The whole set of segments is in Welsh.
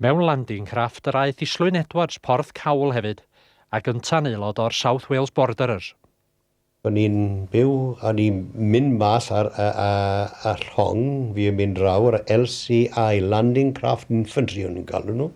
Mewn Landing Craft yr aeth Islwyn Edwards Porth Cawl hefyd, a gynta'n aelod o'r South Wales Borderers. O'n i'n byw, o'n i'n mynd mas ar y llong, fi yn mynd draw, yr LCI, Landing Craft Infantry o'n i'n galw nhw,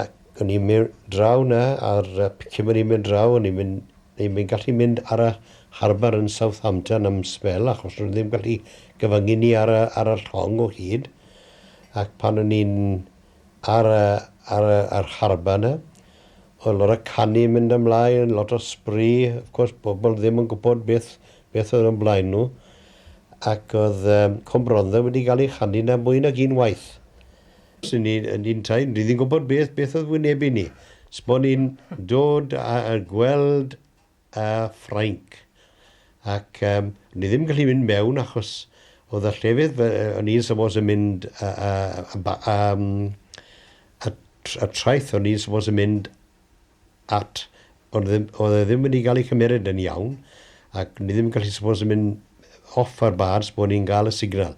ac o'n i'n mynd draw 'na a'r cyn bod ni'n mynd draw o'n i'n mynd, ni'n mynd gallu mynd ar y harbour yn Southampton am sbel achos o'n nhw ddim gallu cyfyngu ni ar y llong o hyd. Ac pan o'n i'n ar y ar y yr harbaa 'na o'dd lot o canu mynd ymlaen lot o spree of course pobol ddim yn gwbod beth beth o'dd o'n blaen nhw ac o'dd yym Cwm Rondda wedi ga'l ei chanu 'na mwy nag un waith. Swn ni yn un tai ni ddim gwbod beth beth o'dd wynebu ni. Sbo ni'n dod a a gweld a Ffrainc. Ac yym ni ddim yn gallu mynd mewn achos oedd y llefydd fe- yy o'n i'n supposed yn mynd yy yy yn ba- yym y tr- y traeth o'n i'n supposed yn mynd at o'n ddim oedd e ddim wedi ga'l ei cymeryd yn iawn ac ni ddim yn gallu supposed yn mynd off ar bars bo' ni'n ga'l y signal.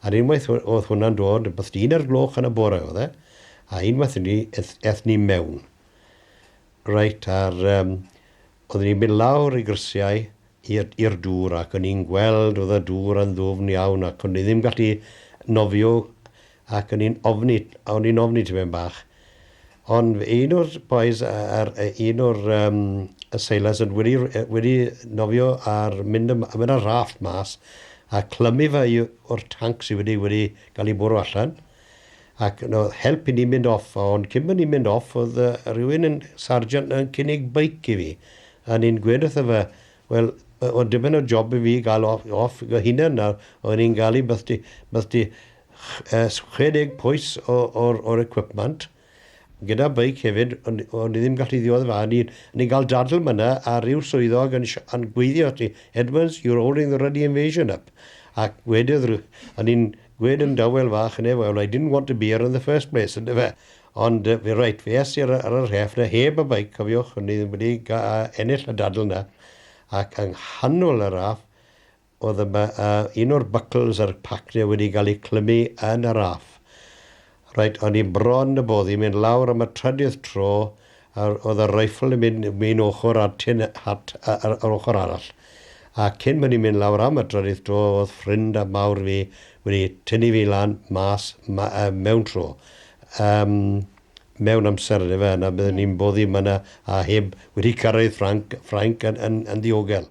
A'r unwaith o- o'dd hwnna'n dod rwbeth 'di un ar gloch yn y bore o'dd e a unwaith 'ny eth- ethon ni mewn. Reit, a'r yym, oeddwn i'n mynd lawr i grisiau i'r i'r dŵr ac o'n i'n gweld oedd y dŵr yn ddwfn iawn ac o'n i ddim gallu nofio ac o'n i'n ofni o'n i'n ofni tipyn bach. Ond un o'r bois yy yr yy un o'r yym y sailors yn wedi r- yy wedi nofio ar mynd ym- a mynd ar raft mas a clymu fe i o'r tanc sy wedi wedi ga'l 'i bwrw allan. ac yna oedd help i ni mynd off, ond cyn bod ni'n mynd off oedd uh, rhywun yn sargeant yn cynnig beic i fi, a ni'n gweud wrtho fe, wel, oedd dibyn o job i fi gael off, off go hunan nawr, oedd ni'n gael i beth di, beth di 60 poes o'r, or, or equipment, gyda beic hefyd ond o'n i ddim gallu ddiwedd y fan o'n i'n o'n i'n cael dadl myna a ryw swyddog yn sh- yn gweiddio ati Edmunds you're holding the ruddy invasion up ac wedodd ry- o'n i'n gwed yn dawel fach yn e well I didn't want to be here in the first place yn dyfe ond yy fe reit fe es i ar, ar y rheff na heb y beic cofiwch o'n i ddim wedi ga- ennill y dadl na ac yng nghanol y raff o ddyma a un o'r buckles a'r pacne wedi cael eu clymu yn y raff. Reit, o'n i bron y boddi mynd lawr am y trydydd tro a oedd y rifle yn mynd un ochr a'r tin hat ar yr ochr arall. A cyn bod ni'n mynd lawr am y trydydd tro oedd ffrind a mawr fi wedi tynnu fi lan mas ma, uh, mewn tro. Um, mewn amser yn efe yna byddwn ni'n boddi yma a heb wedi cyrraedd Ffranc, Ffrainc yn, yn, yn ddiogel.